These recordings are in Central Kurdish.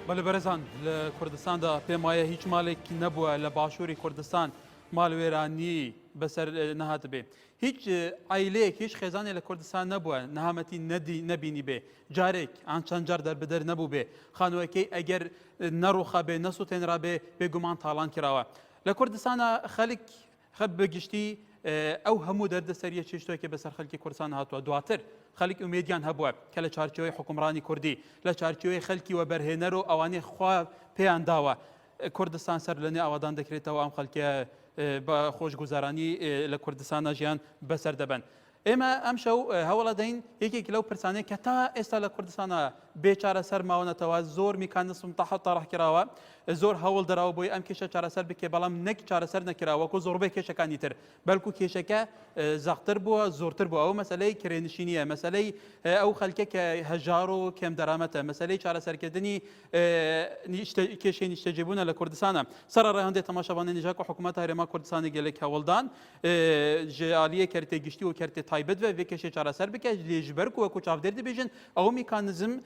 بەە بەرزان لە کوردستاندا پێم وایە هیچ مالێکی نەبووە لە باشووری کوردستان مال وێرانی بەسەر نەهاتبێ هیچ عەیلەیەک هیچ خێزانێ لە کوردستان نەبووە نەهامەتی نەدی نەبینی بێ جارێک ئان چەند جار دەربدەر نەبوو بێ خانووەکەی ئەگەر نەڕوخا بێ نەسووتێنرا بێ بێگومان تاڵان کراوە لە کوردستانە خەلک خە بەگشتی ئەو هەموو دەردە سەریە چێشتۆکی بەسەر خەلکی کوردستان هاتووە دواتر خەلک ئومێدیان هەبووە کە لە چارچەوەی حکومڕانی کوردی لە چارچەوەی خەلکی وەبەرهێنەر و ئەوانەی خوا پێیان داوە کوردستان سەر لەنوێ ئاوادان دەکرێتەوە ئەم خەلکە بە خۆشگوزارانی لە کوردستانە ژیان بەسەر دەبن. ئێمە ئەم شەو هەوڵە دەین یەکێک لەو پرسانەیە کە تا ئێستا لە کوردستانە بێچارە سەر ماونەتەوە زۆر میکانسم تاح تاڕحکراوە زۆر هەوڵ دراوە بۆی ئەم کێشە چارەسەر بکێ بەڵام نەک چارەسەر نەکرا وەکو زۆربەی کێشەکانی تر بەلکو کێشەکە زەقتر بووە زۆرتر بوو ئەو مەسلەی کرێنشینیە مەسلەی ئەو خەلکە کە هەژار و کەم دەرامەتە مەسلەی چارەسەرکردنی کێشەی نیشتەجێبوونە لە کوردستانە سەر ڕێهندێ تەماشاوانە نژاک و حکوومەت هەرێما کوردستانی گەلێک هەوڵدان ژیالیە کەرتێ گشتی و کەرتێ تایبەت بە کێشێ چارەسەر بکە لێژبەر وەکو چاودێر دەبێژن ئەو میکانزم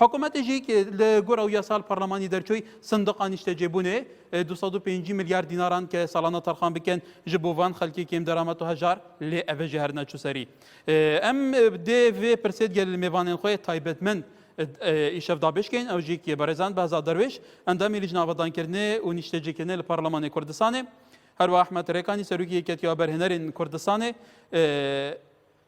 حکومەتیشی ک لە گۆر ئەو یاسال پەڕلەمانی دەرچوی سندقا نیشتەجێبونێ دوو سەد و پێنج ملیار دیناران ک ساڵانە تەڕخان بکەن ژ بۆ ڤان خەلکێ کێم دەرامەت و هەژار لێ ئەڤە ژە هەر نەچو سەری. ئەم دێ ڤێ پرسێد گەل مێڤانێن خوەێ تایبەتمەند ئیشەڤ دابێش کەین ئەوژێ ک بەڕێزان بەهزاد دەروێش ئەندامی لیژنە ئاڤەدانکردنێ و نیشتەجێکردنێ لە پەڕلەمانێ کوردستانێ هەروا ئەحمەد رێکانی سەروکی یەکێتی وەبەرهێنەرێن کوردستانێ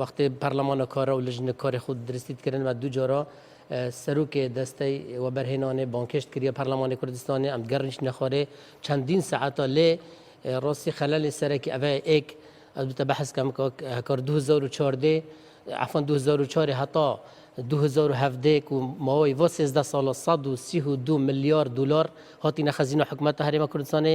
وەختێ پەرلەمانە کارە و لژنە کارێ خود درستیت کردن و دوو جۆرە سەرۆکێ دەستەی وەبەرهێنانێ بانکێشت کردە پەرلەمانی کوردستانێ ئەم گەڕنیش نەخۆرێ چەندین سەعاتە لێ ڕۆسی خەلەلی سەرەکی ئەڤە ئێک ئەلبتە بەحس کەم کۆک هەکار 2014 عفوا 2004 هەتا دوو هەزار و هەڤدە ێک و ماوەی ڤۆ سێزدە ساڵە سەد و سی و دوو ملیار دولار هاتینە خەزینە حکومەتە هەرێمە کوردستانێ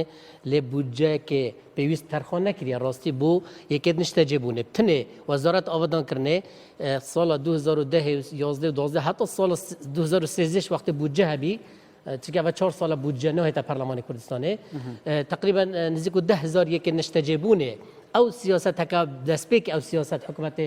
لێ بودجەێکێ پێویست تەرخان نەکریە راستی بو یەکێت نشتەجێ بونێ بتنێ وەزارەت ئاڤدان کرنێ ساڵە دوو هەزار و دە و یازدە و دوازدە هەتا ساڵە دوو هەزار و سێزدە ش وەختێ بودجە هەبی چونکە ئەوە چوار ساڵە بودجە نەهێتە پەرلەمانی کوردستانێ تقریبا نزیک و دە هەزار یەکێ نیشتەجێ بوونێ ئەو سیاسەتەکە دەستپێکی ئەو سیاسەت حکوومەتێ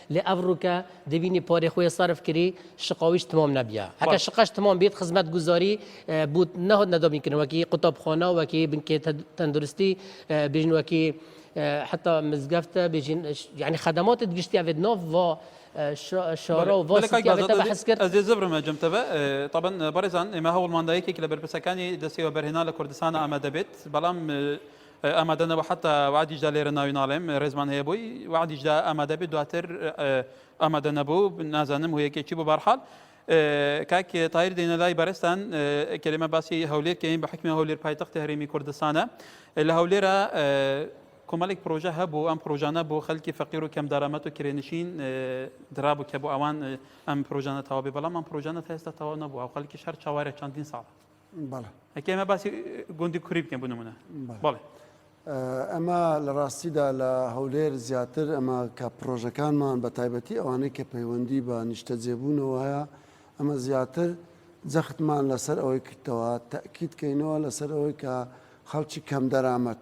لە ئەڤ ڕووکە دبینی پارەی خوەی سەرف کری شقاویش تمام نەبیا. ئەگەر باش. شقەش تمام بیت خزمەتگوزاری بووت نەهاتنە دابینکردن وەکی قوتابخانە، وەکی بنکەی تەندروستی بیژن وەکی حەتا مزگەفت بیژن یانی خەدەماتێ گشتی ئەێد ناڤ ڤا شارا و ڤا سیتی ئەێتە بەحس کرد. بەلێ کاک بازات ئەز ئەز ئێزە برمە جەم تەڤ تەبەن بەڕێزان ئێمە هەوڵمان دا یەکێک لە بەرپرسەکانی دەستەی وەبەرهێنان لە کوردستانا ئامادە بێت بەڵام ئامادەنە وە حەتا وەعدیشدا لێرە ناوی ناڵێم ڕێزمان هەیە بۆی وەعدیشدا ئامادە بێت دواتر ئامادە نەبوو نازانم هۆیەکێک چی بۆ بارحال کاک تایر دێنە لای بەرستان کەێمە باسی هەولێر کەین بە حکمی هەولێر پایتەختی هەرێمی کوردستانە لە هەولێرە کۆمەڵێک پرۆژە هەبوو ئەم پرۆژانە بۆ خەلکی فەقیر و کەم دارامەت و کرێنشین درابوو کە بۆ ئەوان ئەم پرۆژانە تەواوبێ بەڵام ئەم پرۆژانە هێستا تەواو نەبووە خەلکی شەر چاوارە چەندین ساڵ بەڵێ ئەکێ ئەمە باسی گوندی کوری بکەین بۆ نمونە بەڵێ ئەمە لە ڕاستیدا لە هەولێر زیاتر ئەمە کە پرۆژەکانمان بە تایبەتی ئەوانەی کە پەیوەندی بە نیشتە جێبوونەوە هەیە ئەمە زیاتر جەختمان لەسەر ئەوەی کردەوە تاکییتکەینەوە لەسەر ئەوەی کە خەڵکی کەم دەرامەت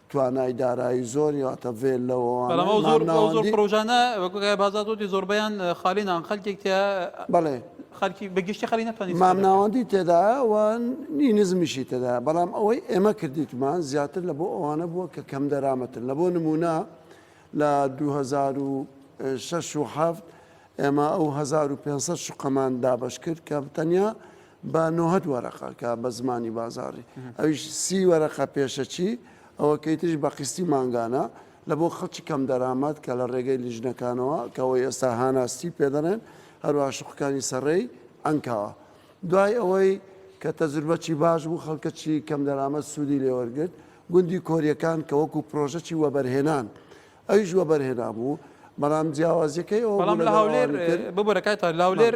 توانای دارایی زۆری واتە ڤێل لەوەوانە بەڵام ئەو زۆر ئەو زۆر مامناوەندی پڕۆژانە وەکو کە بازار دۆدی زۆربەیان خالی نان خەلکێک تیا بەڵێ خەلکی بە گشتی خەلی نەتوانی استفادە بکات. مامناوەندی تێدایە و نی نزمیشی تێدایە بەڵام ئەوەی ئێمە کردیتمان زیاتر لە بۆ ئەوانە بووە کە کەم دەرامەتن لە بۆ نموونە لە دوو هەزار و شەش و حەفت ئێمە ئەو هەزار و پێنج سەد شوقەمان دابەش کرد کە تەنیا با نۆهەد وەرەقە کا بە زمانی بازاڕی ئەویش سی وەرەقە پێشەچی ئەوە کەی تریش بە قیستی مانگانە لە بۆ خەڵکی کەم دەرامەت کە لە ڕێگەی لیژنەکانەوە کەەوەی ئێستا هاناستی پێدەنێن هەروە شوقەکانی سەڕێی ئەنکاوە دوای ئەوەی کە تەجربەچی باش بوو خەڵکەچی کەم دەرامەت سوودی لێوەرگرت گوندی کۆریەکان کە وەکو پرۆژەی وەبەرهێنان ئەویش وەبەرهێنا بوو بەڵام جیاوازیەکەی ئەو بەڵام لە هاولێر ببرەکەی تا لاولێر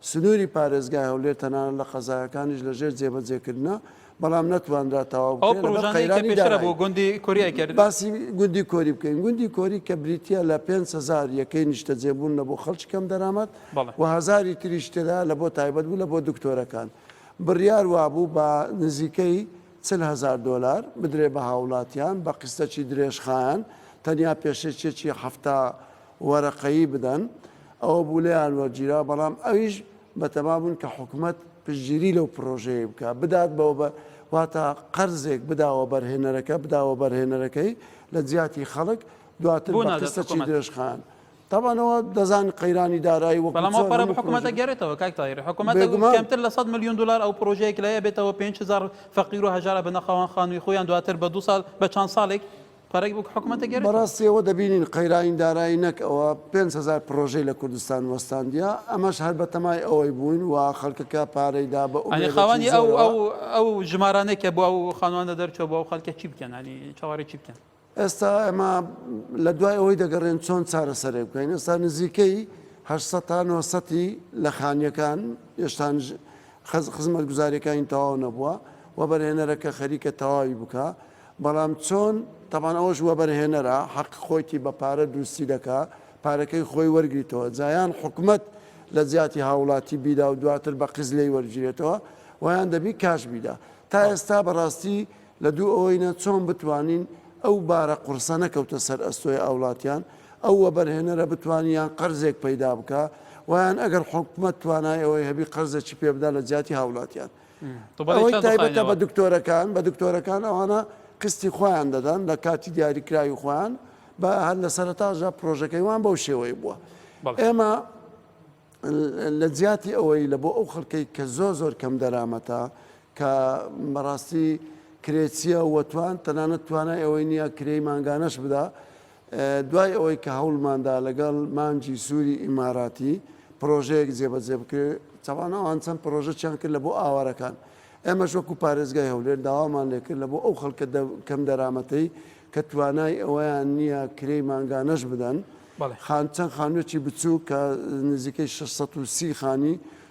سنووری پارێزگای هەولێر تەنانەت لە قەزایەکانیش لەژێر جێبەجێکردنە، بەڵام نەتوانرا تەواو بکرێت لەبەر قەیرانی دارایی. باسی گوندی کۆری بکەین، گوندی کۆری کە بریتییە لە پێنج هەزار یەکەی نیشتەجێبوون لە بۆ خەڵکی کەم دەرامەت و هەزاری تریش تێدایە لە بۆ تایبەت بوو لە بۆ دکتۆرەکان، بڕیار وابوو بە نزیکەی چل هەزار دۆلار بدرێت بە هاووڵاتیان بە قیستەکی درێژخایەن، تەنیا پێشێکیەکی حەفتا وەرەقەیی بدەن، ئەوە بوو لێیان وەرگیرا، بەڵام ئەویش بەتەما بوون کە حکومەت پشتگیری لەو پرۆژەیەی بکا، بدات بە وەبە، واتە قەرزێک بدا وەبەرهێنەرەکە، بدا وەبەرهێنەرەکەی لە جیاتی خەڵک، دواتر بە قستەکی درێژخایەن. تابان ئەوە دەزانن قەیرانی دارایی وەکوو چۆن هەموو پرۆژە. بەڵام ئەو پارە بە حکومەت دەگەرێتەوە کاک تاهیر، حکومەت دەگوت کەمتر لە سەد ملیون دولار ئەو پرۆژەیە کە لای ئەبێتەوە پێنج هەزار فەقیر و هەژار ئەبنە خاوەن خانووی خۆیان، دواتر بە دوو ساڵ، بە چەند ساڵێک، پەرەی بوک حکومەتە گێرێتەوە. بەڕاستی ئەوە دەبینین قەیرانی دارایی نەک ئەوە پێنج هەزار پڕۆژەی لە کوردستان وەستاندیە ئەمەش هەر بەتەمای ئەوەی بووین وا خەڵکەکە پارەی دا بە ئەنی ئومێدێکی خاوەنی ئەو زۆرەوە. ئەو ئەو ژمارانەی کە بۆ ئەو خانوانە دەرچووە بۆ ئەو خەڵکە چی بکەن ئەنی چاوەڕێی چی بکەن؟ ئێستا ئێمە لە دوای ئەوەی دەگەڕێن چۆن چارەسەرێک بکەین ئێستا نزیکەی هەشت سەد تا نۆ سەد ی لە خانیەکان یێشتانژ خەز خزمەتگوزاریەکانی تەواو نەبووە وەبەرهێنەرەکە خەریکە تەواوی بکا بەڵام چۆن؟ تەبان ئەوەش وەبەرهێنەرە حەق خۆیتی بە پارە دروستی دەکا پارەکەی خۆی وەرگریتەوە جا یان حکومەت لە جیاتی هاوڵاتی بیدا و دواتر بە قست لێی وەرگیرێتەوە وە یان دەبی کاش بیدا تا ئێستا بەڕاستی لە دوو ئەوەینە چۆن بتوانین ئەو بارە قورسە نەکەوتە سەر ئەستۆی ئاوڵاتیان ئەو وەبەرهێنەرە بتوانی یان قەرزێک پەیدا بکا وە یان ئەگەر حکومەت توانای ئەوەی هەبی قەرزەکی پێ بدا لە جیاتی هاوڵاتیان ئەوەی تایبەتە بە دکتۆرەکان، بە دکتۆرەکان ئەوانە قستی خۆیان دەدەن لە کاتی دیاریکراوی خۆیان، بە هەر لە سەرەتاشدا پرۆژەکەی وان بەو شێوەی بووە. ئێمە لە جیاتی ئەوەی لە بۆ ئەو خەڵکەی کە زۆر زۆر کەم دەرامەتە کە بەڕاستی کرێچیە وەتوان تەنانەت توانای ئەوەی نییە کرێی مانگانەش بدا، دوای ئەوەی کە هەوڵماندا لەگەڵ مانگی سووری ئیماراتی پرۆژەیەک جێبەجێ بکرێت، تاوان ئەوان چەند پرۆژەکیان کرد لە بۆ ئاوارەکان، ئێمەش وەکو پارێزگای هەولێر داوامان لێکرد لە بۆ ئەو خەڵکە کەم دەرامەتەی کە توانای ئەوەیان نییە کرێی مانگانەش بدەن، چەند خانوویەکی بچووک کە نزیکەی شەش سەد و سی خانی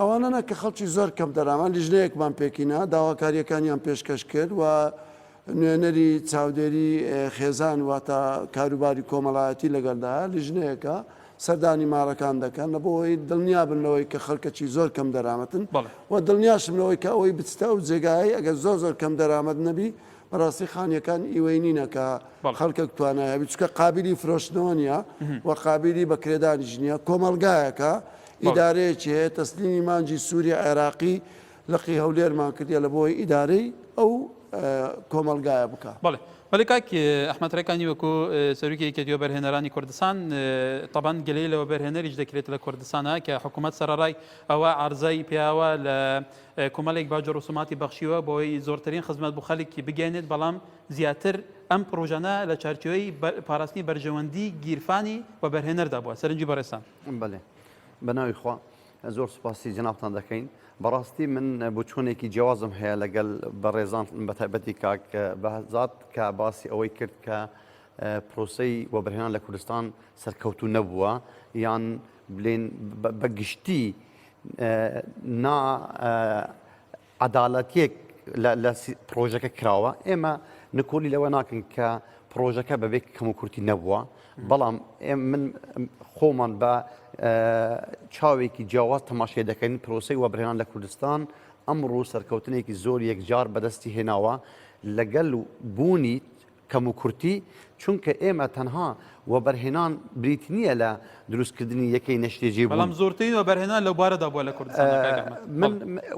ئەوانە نا کە خەڵکی زۆر کەم دەرامەت لیژنەیەکمان پێکهینا، داواکارییەکانیان پێشکەش کرد و نوێنەری چاودێری خێزان واتە کاروباری کۆمەڵایەتی لەگەڵدایە، لیژنەیەکە سەردانی ماڵەکان دەکەن لە بۆ ئەوەی دڵنیابن لەوەی کە خەڵکەکی زۆر کەم دەرامەتن و دڵنیاشم لەوەی کە ئەوەی بچتە ئەو جێگایەی ئەگەر زۆر زۆر کەم دەرامەت نەبی بەڕاستی خانیەکان ئیوەی نینە کە خەڵکەک توانایە بچکە قابلی فرۆشتنەوە نیە و قابلی بەکرێدانیش نیە کۆمەلگایەکە ئیدارەیەکی هەیە تەسلیمی مانجی سوری عێراقی لقی هەولێرمان کردیە لەبۆی ئیدارەی ئەو کۆمەڵگایە بکا. بەڵێ بەڵێ کاک ئەحمەد ڕێکانی وەکو سەرۆکی یەکێتی وەبەرهێنەرانی کوردستان تەبەن گلەی لە وەبەرهێنەریش دەکرێت لە کوردستانە کە حکوومەت سەرەڕای ئەوە عرضای پیاوە لە کومەلێک باج و ڕسوماتی بەخشیوە بۆی زۆرترین خزمەت بۆ خەلکی بگەێنێت بەڵام زیاتر ئەم پرۆژانە لە چارچوەی پاراستنی بەرژەوەندی گیرفانی وەبەرهێنەردا بووە سەرنجی بەڕێسان بەێ بەناوی خوا زۆر سوپاسی جنابتان دەکەین بەڕاستی من بچوونێکی جیازم هەیە لەگەل بە ڕێزان بە تایبەتی کاک بەزات کە باسی ئەوەی کرد کە پرۆسی وەبرهێنان لە کوردستان سەرکەوتو نەبووە یان بلێن بە گشتی نا عەدالەتیەک لە لە پرۆژەکە کراوە ئێمە نکۆلی لەوە ناکەن کە پرۆژەکە بەبێ کەموکورتی نەبووە بەڵام من خۆمان بە چاوێکی جیاواز تەماشێ دەکەین پرۆسی وەبرهێنان لە کوردستان ئەمڕوو سەرکەوتنێکی زۆر یەکجار بەدەستی هێناوە لەگەل بوونی کەموکورتی، چونکە ئێمە تەنها وەبەرهێنان بریتی نییە لە دروستکردنی یەکەی نەشتێجێبوون. بەڵام زۆرترین وەبەرهێنان لەوبارەدا بووە لە کوردستاندا کاک ئەحمەد. من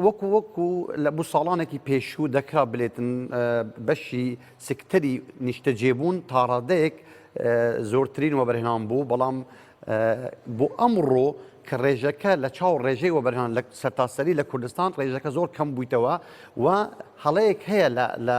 وەکو وەکو لە بۆ ساڵانێکی پێشوو دەکرا بلێتن بەشی سکتەری نیشتەجێبوون تاڕادەیەک زۆرترین وەبەرهێنان بوو، بەڵام بۆ ئەمڕۆ کە ڕێژەکە لە چاو ڕێژەی وەبەرهێنان لە سەرتاسەری لە کوردستان ڕێژەکە زۆر کەم بوویتەوە و هەڵەیەک هەیە لە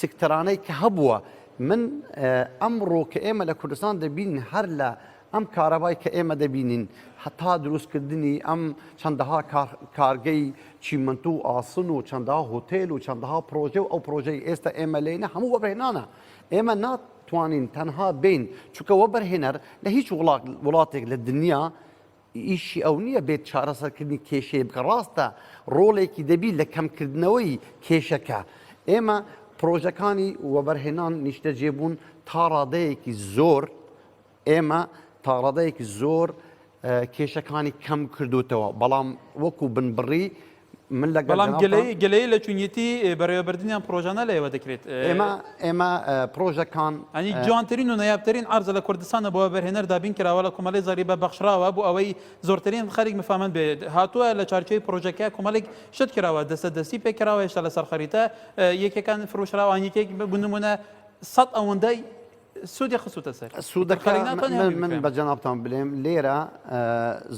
سکتەرانەی کە هەبووە من ئەمڕۆ کە ئێمە لە کوردستان دەبین هەر لە ئەم کارەبای کە ئێمە دەبینین هەتا دروستکردنی ئەم چەندەها کارگەی چیمەنت و ئاسن و چەندەها هۆتێل و چەندەها پرۆژە و ئەو پرۆژەی ئێستا ئێمە لێنە هەموو وەبهێنانە ئێمە نات توانین تەنها بین چکە وە بەرهێنەر لە هیچ وڵاتێک لە دنیا ئیشی ئەو نییە بێت چارەسەرکردنی کێشەیە بکە ڕاستە ڕۆڵێکی دەبی لە کەمکردنەوەی کێشەکە ئێمە پرۆژەکانی وەبەرهێنان نیشتەجێ بوون تا ڕادەیەکی زۆر ئێمە تاڕادەیەکی زۆر کێشەکانی کەم کردوتەوە بەڵام وەکو بنبڕی بەڵام گەلەی لە چونیەتی بەڕێوەبردنیان پرۆژانە لە ئێوە دەکرێت ئێمە ئێمە پرۆژەکان ئەنی جوانترین و نایابترین ئارزە لە کوردستانە بۆ بەرهێنەر دابین کراوە لە کۆمەڵی زاری بە بەخشراوە بۆ ئەوەی زۆرترین خەریک مفامەند بێت هاتووە لە چارچەوەی پرۆژەکە کۆمەڵێک شت کراوە دەستە دەستی پێکراوە هێشتا لەسەر خەریتە یەکەکان فرۆشراوان یەکێک بگونمونە سەد ئەوەندەی سوودی خستوتە سەر سوودەکە من بە جەنابان بلێم لێرە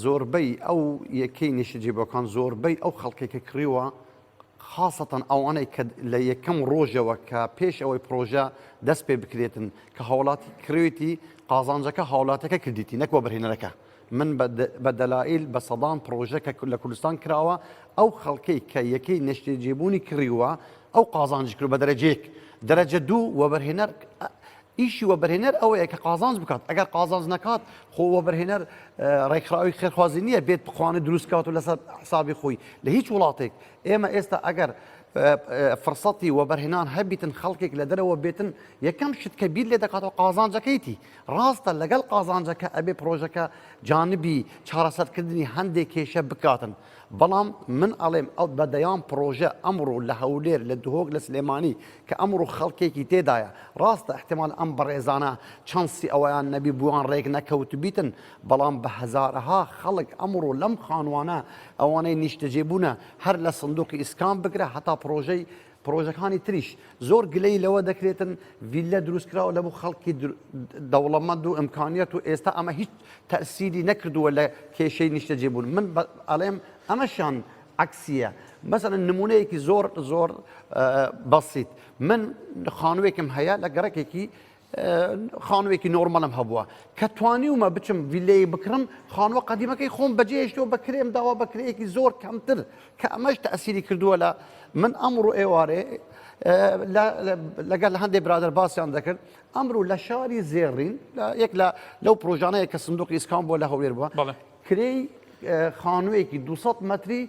زۆربەی ئەو یەکەی نیشتجی بۆکان زۆربەی ئەو خەڵکێکە کڕیوە خاصەتەن ئەوانەی کە لە یەکەم ڕۆژەوە کە پێش ئەوەی پرۆژە دەست پێ بکرێتن کە هاوڵاتی کروێتی قازانجەکە هاوڵاتەکە کردیتی نەکوە بەرهێنەرەکە من بە دەلائیل بە سەدان پڕۆژە کە لە کوردستان کراوە، ئەو خەڵکەی کە یەکەی نەشتێجێبوونی کڕیووە، ئەو قازانج کردووە بە دەرەجە یەک، دەرەجە دوو، وەبەرهێنەر ئیشی وەبەرهێنەر ئەوەیە کە قازانج بکات، ئەگەر قازانج نەکات خۆ وەبەرهێنەر ڕێکخراوی خێرخوازی نییە بێت بخوانە دروست کات و لەسەر حسابی خۆی لە هیچ وڵاتێک ئێمە ئێستا ئەگەر فرسەتی وەبەرهێنان هەبیتن خەڵکێک لە دەرەوە بێتن یەکەم شت کە بیر لێ دەکاتەوە قازانجەکەیتی ڕاستە لەگەڵ قازانجەکە ئەبێ پڕۆژەکە جانبی چارەسەرکردنی هەندێک کێشە بکاتن بەڵام من ئەڵێم ئەو بەدەیان پڕۆژە ئەمڕۆ لە هەولێر لە دهۆک لە سلێمانی کە ئەمڕۆ خەڵکێکی تێدایە ڕاستە احتمال ئەم بەڕێزانە چەنسی ئەویان نەبی بووان ڕێک نەکەوتبیتن بەڵام بە هەزارەها خەڵک ئەمڕۆ لەم خانوانە ئەوانەی نیشتەجێبوونە هەر لە سندوقی ئیسکان بگرە هەتا پڕۆژەی پرۆژەکانی تریش زۆر گلەی لەوە دەکرێتن ڤیللە دروستکراوە لە بۆ خەڵکی دەوڵەمەند و ئەمکانیت و ئێستا ئەمە هیچ تەسیری نەکردووە لە کێشەی نیشتەجێ بوون من ئەڵێم ئەمەشان عکسیە مەسەن نمونەیەکی زۆر زۆر بەسییت من خانوێکم هەیە لە گەڕکێکی خانوێکی نۆرمەلم هەبووە کە توانیومە بچم ویلەیە بکڕم خانوە قەدیمەکەی خۆم بەجێشتەوە بە کرێم داوا بە کرەیەکی زۆر کەمتر کە ئەمەش تەسیری کردووە لە من ئەمڕۆ ئێوارێ لەگەر لە هەندێک برادر باسییان دەکرد ئەمرو لە شاری زێڕین یەک لە لەو پرۆژانەیە کە سندوقی ئیسکان بۆ لە هەولێر بووە کرێی خانوویەکی 200 متری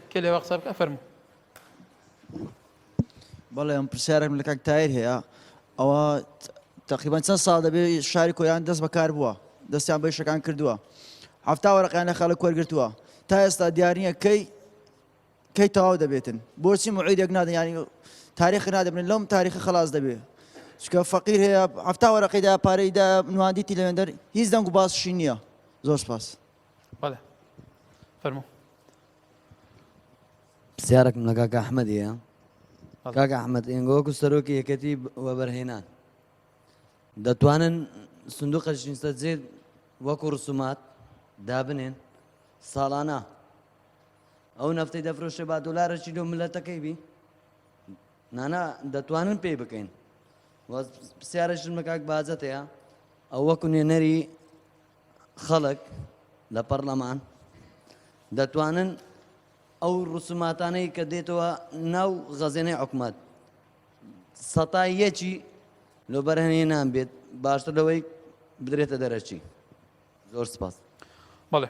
کێ لێوا قسە بکە فەرموو بەڵێ ئەم پرسیارێکم لە کاک تایر هەیە ئەوە تقریبان چەند ساڵ دەبێت شاری کۆیان دەست بەکار بووە دەستیان بە شەکان کردووە هەفتا وەرەقیان لە خەڵک وەرگتووە تا ئێستا دیارنیە کەی کەی تەواو دەبێتن بۆچی معیدێک نادە ینی تاریخ نادەبن لەم تاریخ خلاص دەبێت چکە فەقیر هەیە هەفتا وەرەقیدا پارەیدا نواندیتی لەێندەر هیچ دەنگ و باسشی نییە زۆر سپاس بەڵێ فەرمو پرسیارێکم لە کاک ئەحمەدیە کاک ئەحمەد ئێنگۆکو سەرۆکی یەکەتی وەبەرهێنان دەتوانن سندوق قەشینسە جێ وەکو ڕسومات دابنێن ساڵانە ئەو نەفتی دەفرۆشە با دلارەشی لۆ ملەتەکەی بی نانا دەتوانن پێی بکەین پرسیارەشم لە کاک بازەتەیە ئەو وەکو نوێنەری خەڵک لە پەڕلەمان دەتوانن ئەو ڕسوماتانەی کە دێتەوە ناو غەزێنەی حکومت سەتا یەکی لۆ بەرهەنێ نان بێت باشتر لەوەی بدرێتە دەرەچی زۆر سپاس بەڵێ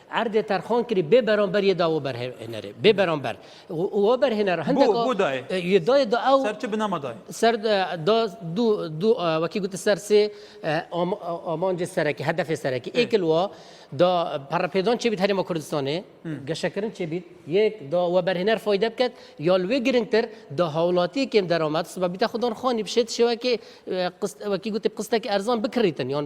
عەردێ تەرخان کری بێ بەرامبەر یە داوە بەرهێنەرێ بێ بەرامبەر وە بەرهێنەر هەندێک بۆ دای یە دای دا ئەو سەر چ بنەما دای سەر دا دو دو وەکی گوتە سەر سێ ئامانجێ سەرەکی هەدەفێ سەرەکی ئێکل وە دا پەڕەپێدان چێ بیت هەرێما کوردستانێ گەشەکردن چێ بیت یەک دا وە بەرهێنەر فایدە بکەت یا لوێ گرنگتر دا هاوڵاتی کێم دەرامەت سبە بیتە خودان خانی بشێت شێوەکێ قست وەکی گوتە قستەکی ئەرزان بکڕیتن یان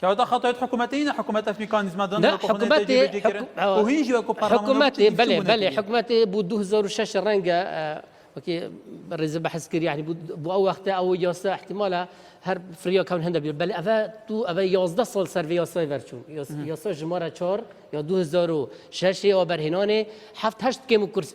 کەواتە خەتای حکومەتە هینە حکومەتە میکانیزمە دان نا حکومەت حکومەت بەێ بەێ حکومەت بوو 2006 ڕەنگە ڕێزە بەحسکرد یعنی بۆ ئەو وەختە ئەو یاستا احتیمالە هەر فریاکەون هەندە بێت بەل ئەە تو ئەە 11 سال سەرێ یاسای بەرچوو یاسا ژمارە چۆر یا 2006 ئەوە بەرهێنانێ هەفتهشت کێم و کورس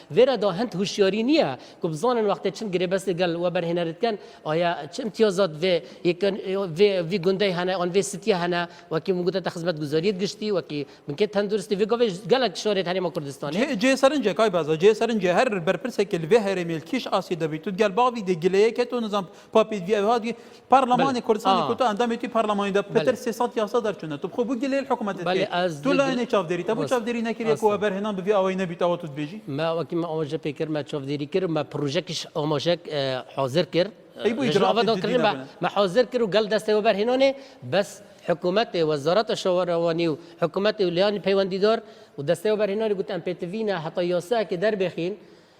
ڤێرا دا هەند هوشیاری نیە کو بزانن وەختێ چن گرێبەست گەل وەبەرهێنەرت کەن ئایا چ امتیازات ڤێ یەکەن ڤێ ڤی گوندەی هەنە ئان ڤێ سیتیە هەنە وەکی من گوتە خزمەت گوزاریت گشتی وەکی بنکەی تەندروستی ڤێ گاڤێ گەلەک شارێت هەرێما کوردستانێ. جێ سەرنجە کای بازا جێ سەرنجە هەر بەرپرسێکی لە ڤێ هەرێمێل کیش ئاسی دەبیتوت گەل باڤی دێ گلەیەکێت و نزام تخوا پێت بیاوێ ها دی پارلمانی کوردستانی کوتا ئەندامێتی پارلمانی دا پتر سێ سەد یاسا دەرچوونە تو بخۆ بو گلەی الحکومەت بەلێ ئەز تو لایەنێ چاودێری تەبو چاودێری نەکرێ کۆ بەرهێنان بڤی ئەوەی نەبیت ئەوە تو دبێژی ما وەکی ما ئەوەژە پێ کرد ما چاودێری کرد ما پروژەکیش ئەومەژەک حاضر کرد ئەی بو ئیجرا بەدەڵ کرد ما حاضر کرد و گەل دەستەوە بەرهێنانێ بەس حکومەت وەزارەت شەوەرەوانی و حکومەت و لیانی پەیوەندیدار و دەستەوە بەرهێنانی گوت ئەم پێتڤینە هەتا یاساکێ دەربێخین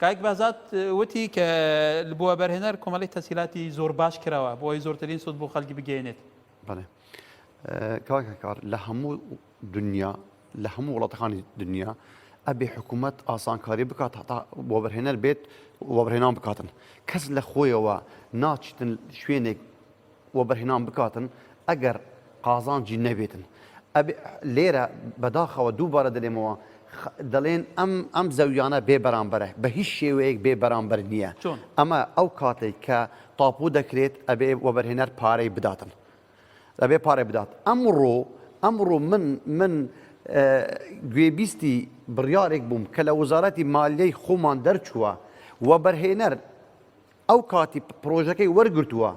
کاک بەهزاد وتی کە بۆ وەبەرهێنەر کۆمەڵی تەسیلاتی زۆر باش کراوە بۆ ئەوی زۆرترین سود بۆ خەلکی بگەێنێت بڵێ کاکەکار لە هەموو دنیا لە هەموو وڵاتەکانی دنیا ئەبێ حکوومەت ئاسانکاری بکات هەتا بۆ بەرهێنەر بێت وەبرهێنان بکاتن کەس لە خۆیەوە ناچیتن شوێنێک وەبەرهێنان بکاتن ئەگەر قازانجی نەبێتن. ئەبێ لێرە بەداخەوە دووبارە دەلێمەوە دەڵێن ئەم ئەم زەویانە بێ بەرامبەرە بە هیچ شێوەیەک بێ بەرامبەر نییە ئەمە ئەو کاتێک کە تاپوو دەکرێت ئەبێ وەبەرهێنەر پارەی بداتن دەبێ پارێ بدات ئەمڕۆ ئەمڕۆ من من گوێبیستی بڕیارێک بووم کە لە وەزارەتی مالیەی خۆمان دەرچووە و بەرهێنەر ئەو کاتی پڕۆژەکەی وەرگرتووە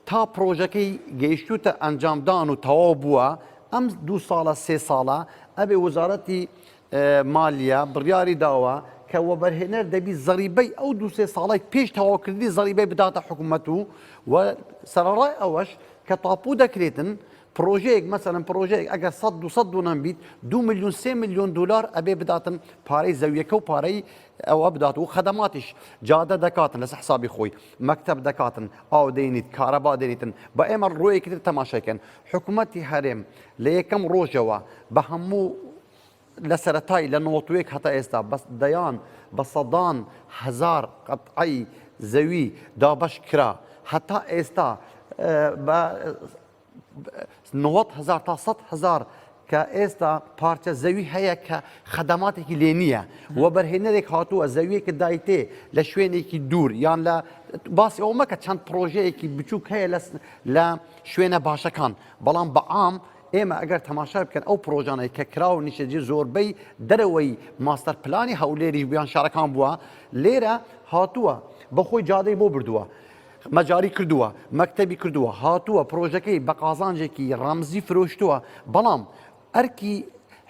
تا پڕۆژەکەی گەیشتوتە ئەنجامدان و تەواو بووە ئەم دوو ساڵە سێ ساڵە ئەبێ وەزارەتی مالیە بڕیاری داوە کە وەبەرهێنەر دەبی زەریبەی ئەو دو سێ ساڵی پێش تەواوکردنی زەریبەی بداتە حکوومەت و و سەرڕای ئەوەش کە تاپو دەکرێتن پرۆژەیەک مەسەرم پرۆژەیەک ئەگەر 100 دو دونم بیت دو میلیون سێ میلیۆن دلار ئەبێ بداتن پارەی زەویەکە و پارەی ئەوە بدات و خەدەماتیش جادە دەکاتن لەسە حسابی خۆی مەکتب دەکاتن ئاو دەینیت کارەبا دەێنیتن بە ئێمە ڕۆیەکی تر تەماشاکەن حکوومەتتی هەرێم لە یەکەم ڕۆژەوە بە هەموو لە سەتای لە نۆتوێک هەتا ئێستا بەس دەیان بە سەدان هزار قەتعی زەوی دابش کرا هەتا ئێستا بە نۆەد هەزار تا سەد هەزار کە ئێستا پارچە زەوی هەیە کە خەدەماتێکی لێ نییە و بەرهێنەرێک هاتووە زەویەکە دایتێ لە شوێنێکی دوور یان لە باسی ئەو مەکە چەند پرۆژەیەکی بچووک هەیە لە شوێنە باشەکان بەڵام بەعام ئێمە ئەگەر تەماشا بکەن ئەو پرۆژانەی کە کرا و نیشەجی زۆربەی دەرەوەی ماستەر پلانی هەولێریش بیان شارەکان بووە لێرە هاتووە بەخۆی جادەی بۆ بردووە. مەجاری کردووە، مەکتەبی کردووە، هاتووە پرۆژەکەی بە قازانجێکی ڕەمزی فرۆشتووە، بەڵام ئەرکی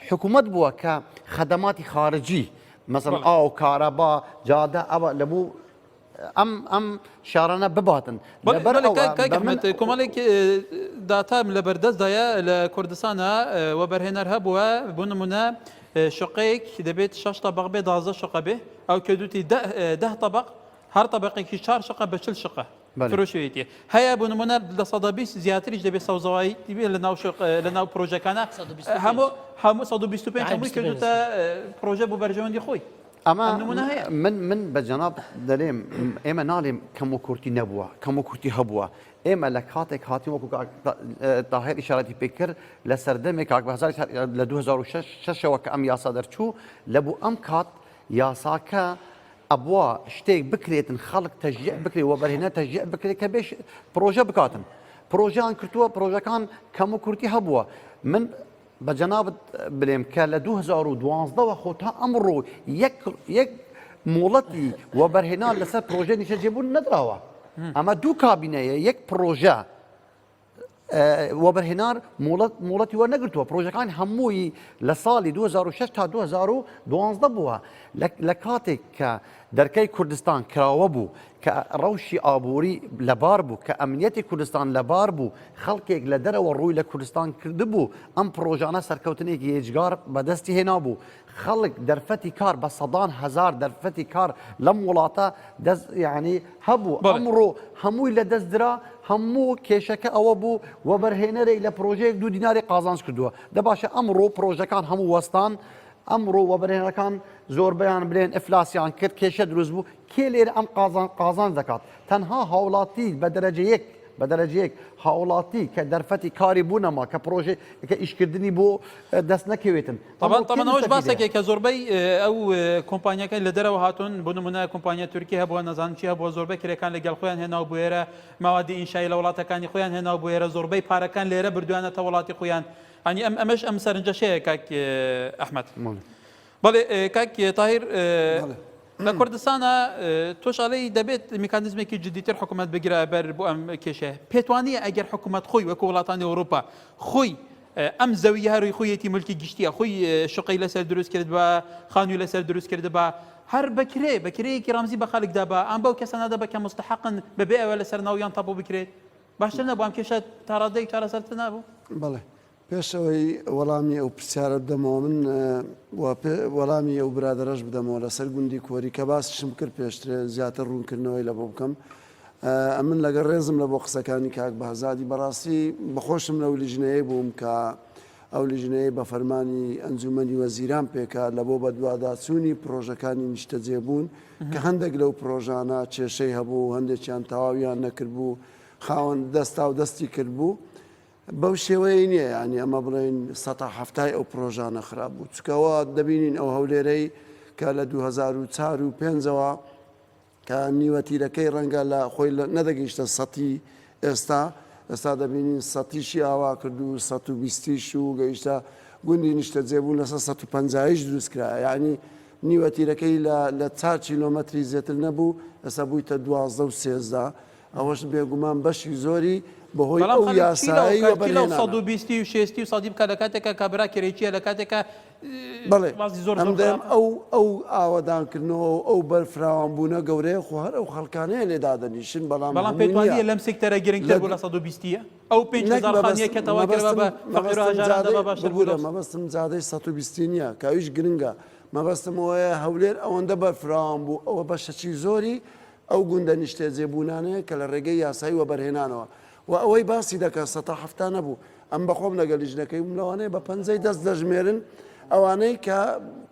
حکوومەت بووە کە خەدەماتی خارجی مەسەن ئاو، کارەبا، جادە ئەوە لە بوو ئەم ئەم شارانە بباتن کۆمەڵێک داتام لە بەردەستدایە لە کوردستانە و بەرهێنەر هەبووە بۆ نمونە شقەیەک دەبێت شش طبق بێ دازە شقە بێ ئەو کردوتی ده طبق هەر تەبەقێکی چار شەقە بە چل شەقە فرۆشێتی هەیە بۆ نمونە لە سەدا بیست زیاتریش دەبێت سەوزەوایی تیبێت لە ناو لە ناو پرۆژەکانە هەموو هەموو 125 هەمووی کردوتە پرۆژە بۆ بەرژەوەندی خۆی ئەمە من من بە جەناب دەرێم ئێمە ناڵێم کەم و کورتی نەبووە کەم و کورتی هەبووە ئێمە لە کاتێک هاتی وەکو تاهر ئشارەتی پێکرد لە سەردەمێک کاک بەزار لە 2006ەوە کە ئەم یاسا دەرچوو لە بوو ئەم کات یاساکە ئەبوا شتێک بکرێتن خەڵک تەژیع بکرێت وەبەرهێنە تەژیع بکرێت کە بێش پرۆژە بکاتن پرۆژیان کردووە پرۆژەکان کەم و کورتی هەبووە من بە جەنابت بلێم کە لە 2012ەوە خۆ تا ئەمڕۆ یەک مۆڵەتی وەبەرهێنا لەسەر پرۆژە نیشەجێبوون نەدراوە ئەمە دوو کابینەیە یەک پرۆژە وەبەرهێنان مۆڵەتی وەرنەگرتووە پرۆژەکان هەمووی لە ساڵی 2006 تا 2012 بووە لە کاتێک کە دەرکەی کوردستان کراوە بوو کە ڕەوشی ئابووری لەبار بوو کە ئەمنیەتی کوردستان لەبار بوو خەڵکێک لە دەرەوە ڕووی لە کوردستان کردبوو ئەم پرۆژانە سەرکەوتنێکی هێجگار بەدەستی هێنا بوو خەڵک دەرفەتی کار بە سەدان هەزار دەرفەتی کار لەم وڵاتە دەست یعنی هەبوو ئەمڕۆ هەمووی لە دەست درا هەموو کێشەکە ئەوە بوو وەبەرهێنەرێک لە پرۆژەیەک دوو دیناری قازانج کردووە دە باشە ئەمڕۆ پرۆژەکان هەموو وەستان ئەمڕۆ وەبەرهێنەکان زۆربیان بلێن ئەفلاسیان کرد کێشە دروست بوو کێ لێر ئەم قازان قازان دەکات تەنها هاوڵاتی بە دەرەجە یەک بە دەرەجەیەک هاوڵاتی کە دەرفەتی کاری بوونەما کە پرۆژێ کە ئیشکردنی بۆ دەست نەکەوێتن تەبان تەبان ئەوش باسەکێک کە زۆربەی ئەو کۆمپانیەکان لە دەرەوە هاتون بۆ نمونە کۆمپانیا تورکی هەبووە نەزان چی هەبووە زۆربەی کرێکان لەگەڵ خۆیان هێناو بوێرە ماوادی ئینشایی لە وڵاتەکانی خۆیان هێناو بوێرە زۆربەی پارەکان لێرە بردوانەتە وڵاتی خۆیان ئەنی ئەم ئەمەش ئەم سەرنجەشەیە کاک ئەحمد بەڵێ کاک تاهیر لە کوردستانە تۆشالەی دەبێت میکانزمێکی جدیتر حکوومەت بگرە بەر بۆ ئەم کێشەیە پێتوانیە ئەگەر حکوومەت خۆی وەکو وڵاتانی ئەوروپا خۆی ئەم زەوییە رووی خۆیەتی ملکی گشتیە خۆی شقەی لەسەر دروست کرد بە خانووی لەسەر دروست کرد بە هەر بەکرێ بەکرەیەکی رامزی بە خەلکدا بە ئەم بەو کەسە نادە بە کە مستحقن بەبێ ئەوە لەسەر ناویان تاپۆ بکرێت باشتر نەبووم کێشە تاڕادەی چارەسەرتە نابوو بڵێ پێشەوەی وەڵامی ئەو پرسیارە بدەمەوە من وەڵامی ئەو برادرەش بدەمەوە لەسەر گوندی کۆری کە باسیشم کرد پێشترێ زیاتر ڕوونکردنەوەی لە بۆ بکەم ئەمن لەگەڵ ڕێزم لە بۆ قسەکانی کاک بەهزادی بەڕاستی بەخۆشم لەو لیژنەیە بووم کە ئەو لیژنەیە بە فەرمانی ئەنجومەنی وەزیران پێکا لە بۆ بەدواداچوونی پرۆژەکانی نیشتەجێبوون کە هەندێک لەو پرۆژانە کێشەی هەبوو هەندێکیان تەواویان نەکردبوو خاوەن دەستا و دەستی کردبوو بەو شێوەیە نییە ینی ئەمە بڵێن سە هەفتای ئەو پرۆژانە خراپ بوو چکەوە دەبینین ئەو هەولێرەی کە لە 2004 و پێنجەوە کە نیوە تیرەکەی ڕەنگە لە خۆی نەدەگەیشتە سەتی ئێستا، ئێستا دەبینین سەتیشی ئاوا کرد و سەد و بیستیش و گەیشتە گوندی نیشتەجێبوون لەسەر سەد و پەنجایش دروست کرا یەعنی نیوە تیرەکەی لە لە چار کیلۆمەتری زێتر نەبوو ئێستا بوویتە دوازدە و سێزدە ئەوەش بێگومان بەشی زۆری بەهۆی ئەو یاسایەی وەبەرهێنانە. بەڵێ ئەم دەم ئەو ئەو ئاوەدانکردنەوە و ئەو بەرفراوان بوونە گەورەیە خۆ هەر ئەو خەڵکانەیە لێ دادەنیشن بەڵام بەڵام پێت وان نییە لەم سێکتەرە گرنگتر بوو لە سەد و بیستییە ئەو پێنج هەزار خانییە کە تەواو کردووە بە فەقیر و هەژاران دەبا باشتر بوو لەو مەبەستم جادەی سەد و بیستی نییە کە ئەویش گرنگە مەبەستم ئەوەیە هەولێر ئەوەندە بەرفراوان بوو ئەوە بەشەکی زۆری ئەو گوندە نیشتەجێبوونانەیە کە لە ڕێگەی یاسایی وەبەرهێنانەوە وە ئەوەی باسی دەکات سەتا حەفتا نەبوو ئەم بەخۆم لەگەل لیژنەکەی بووم لەوانەیە بە پەنجەی دەست دەژمێرن ئەوانەی کە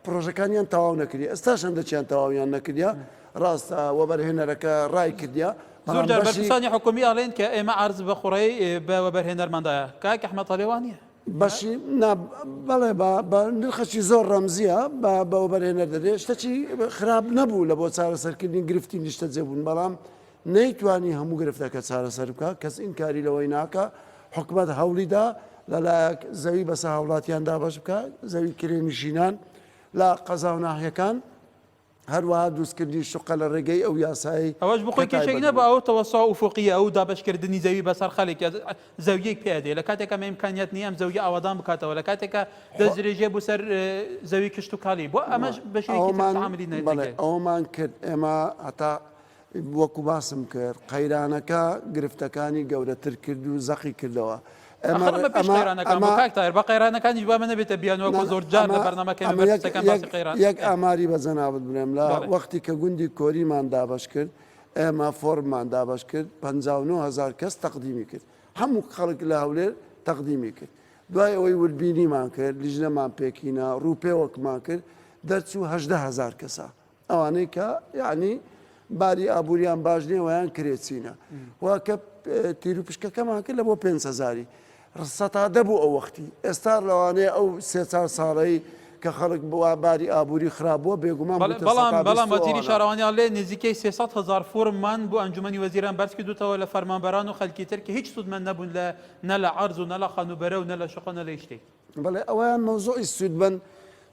پرۆژەکانیان تەواو نەکری ئێستاش هەندەکیان تەواویان نەکردیا ڕاستە وەبەرهێنەرەکە ڕای کردیا زۆر جار بەرپرسانی حکومی ئەڵێن کە ئێمە عرض بە خوڕی بە وەبەرهێنەرماندایە کاک ئەحمەد ئەڵێ وا نییە بەشی بەڵێ بە نرخەکی زۆر ڕەمزیە بە بەوەبەرهێنەر دەدێ شتەکی خراپ نەبوو لە بۆ چارەسەرکردنی گرفتی نیشتەجێ بوون بەڵام نەیتوانی هەموو گرفتەکە چارەسەر بکات، کەس ئینکاری لەوەی ناکات حکومەت هەوڵیدا لەلایەک زەوی بەسەر هاوڵاتیان دابەش بکات، زەوی کرێنشینان لە قەزاو ناحیەکان، هەروەها دروستکردنی شوقە لە ڕێگەی ئەو یاسایەی ئەوەش بۆ خۆی کێشەی نەبوو، ئەو تەوەسوعە ئوفوقییە و دابەشکردنی زەوی بەسەر خەلک یا زەوییەک پیا دێ لەکاتێکا مەیمکانیات نییە ئەم زەوییە ئاوادان بکاتەوە لەکاتێکا دەستدرێژییە بۆ سەر زەوی کشتوکاڵی بۆ ئەمەش بەشێوەیەکی تر تەعامولی نەکرد. ئەوەمان کرد ئێمە هەتا وەکو باسم کرد قەیرانەکە گرفتەکانی گەورەتر کرد و زەقی کردەوە. یەک ئاماری بە جەنابت بڵێم لە وەختی کە گوندی کۆریمان دابەش کرد، ئێمە فۆرممان دابەش کرد، پەنجا و نۆ هەزار کەس تەقدیمی کرد. هەموو خەڵک لە هەولێر تەقدیمی کرد. دوای ئەوەی وردبینیمان کرد، لیژنەمان پێکهینا، ڕووپێوەکمان کرد، دەرچوو هەژدە هەزار کەسە. ئەوانەی کە یعنی باری ئابووریان باش نیە ویان کرێچینە و کە تیروپشکەکەمان کرد لە بۆ پێ هزاری سەتا دەبوو ئەو وەختی ئێستا لەوانەیە ئەو سێ چار ساڵەی کە خەڵک بووە باری ئابووری خراپبووە بێگومان بەڵام بەڵام وەزیری شارەوانیان لێ نزیکەی 300 هزار فۆرممان بۆ ئەنجومی وەزیران بەرز کردوتەوە لە فەرمانبەران و خەلکی تر کە هیچ سوودمەند نەبوون لە نە لە عەرز و نە لە خانوبەرە و نە لە شقە نە لە هیچ شتێکی بەڵێ ئەوەیان مەوزوعی سوودمەند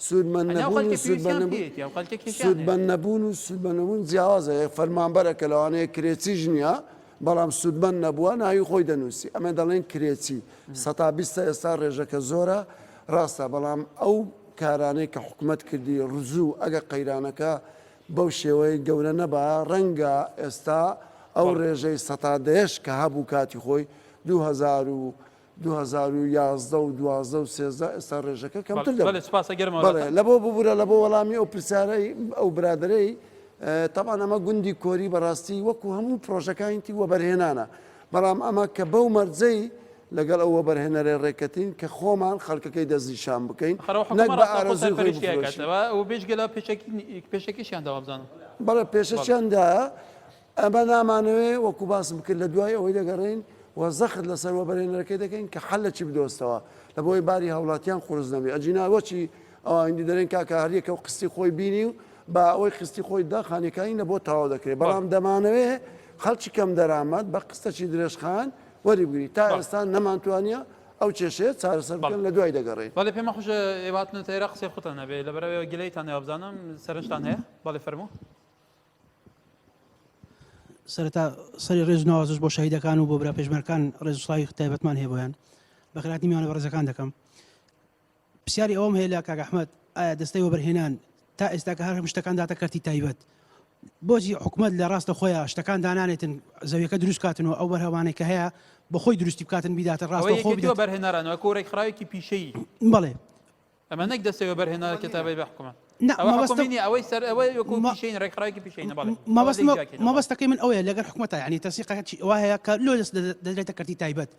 سوودمەند ئەنێ ئەو نەبوون خەلکە و سوود بە پێویستیان نەبوون پێیەتی ئەو خەلکە کێشیان سوود بە هەیە نەبوون و سوود بە نەبوون جیاوازە یە فەرمانبەرە کە لەوانەیە کرێچیش نییە بەڵام سوودمەند نەبووە ناوی خۆی دەنووسی ئەمێ دەڵێن کرێچی سەتا بیستە ئێستا ڕێژەکە زۆرە ڕاستە بەڵام ئەو کارانەی کە حکومەت کردی ڕزوو ئەگە قەیرانەکە بەو شێوەی گەورە نەبایە ڕەنگە ئێستا ئەو بەڵێ ڕێژەی سەتا دەیەش کە هەبوو کاتی خۆی دوو هەزار و دوو هەزار و یازدە و دوازدە و سێزدە ئێستا ڕێژەکە کەمتر دەبێت. بەڵێ سپاس گەرم وەڵام. بەڵێ لەبۆ ببورە لەبۆ وەڵامی ئەو پرسیارەی ئەو برادەرەی تەبعەن ئەمە گوندی کۆری بەڕاستی وەکو هەموو پرۆژەکانیتی وەبەرهێنانە بەڵام ئەمە کە بەو مەرجەی لەگەڵ ئەو وەبەرهێنەرێ ڕێکەتین کە خۆمان خەڵکەکەی دەستنیشان بکەین نەک بە ئارەزووی خۆی بفرۆشین. بەڕاستی ئەو حکومەتە پێشەکیشیان داوە بزانم. بەڵێ پێشەکیان دایە ئەمە نامانەوێ وەکو باسم کرد لە دوای ئەوەی دەگەڕێین و زەخت لە سەر وەبەرهێنەرەکەی دەکەین کە حەل لە چی بدۆزتەوە لە بۆی باری هاوڵاتیان قورس نەبێ ئەجینا وەچی ئەوە هندی دەرێن کاکە هەر یەکەو قستی خۆی بینی و با ئەوەی قستی خۆی دا خانیەکانی لە بۆ تەواو دەکرێ بەڵام دەمانەوێ خەڵکی کەم دەرامەت بە قستەکی درێژخان وەری بگری تا ئێستا نەمان توانیە ئەو کێشەیە چارەسەر بکەن لە دوای دەگەڕێین. بەڵێ پێمە خوش ئێوە هاتنەتە ئێرە قسەی خوتان هەبێ لەبەرئەوەیە گلەیتان نەوە بزانم سەرنجتان هەیە بەڵێ فەرموو. سەرەتا سەری ڕێز ناوازش بۆ شەهیدەکان و بۆ برا پێشمەرکان ڕێزسڵاوی تایبەتمان هەیە بۆیان بەخراتی میوانە بەڕێزەکان دەکەم پرسیاری ئەوم هەیە لە کاگەحمد ئایا دەستەی وەبەرهێنان تا ئێستا کە هەر شتەکان داتە کەرتی تایبەت بۆچی حکومت لە ڕاستە خۆیان شتەکان دانانێتن زەویەکە دروستکاتن و ئەو بەرهەوانێک کە هەیە بەخۆی دروستی بکاتن بیداتە ڕاستەوە بەرهێنەرانەوە کۆرەی خراوێکی پیشەی بڵێ ئەمە نەک دەستەی وەبەرهێنەرە کتابەی بە حکومە نا ئەوە مەبەستم حکومی نیە ئەوەی سەر ئەوەی وەکو مە- پیشەین ڕێکخراوێکی پیشەینە بەڵێ ئەوە مەبەست لێی جیاکەینە بەڵێ مەبەستەکەی من ئەوەیە لەگەر حکومەتە یعنی تەسیقەکە چی ئەوە هەیە کە لۆ دەست دەدە- دەدرێتە کەرتی تایبەت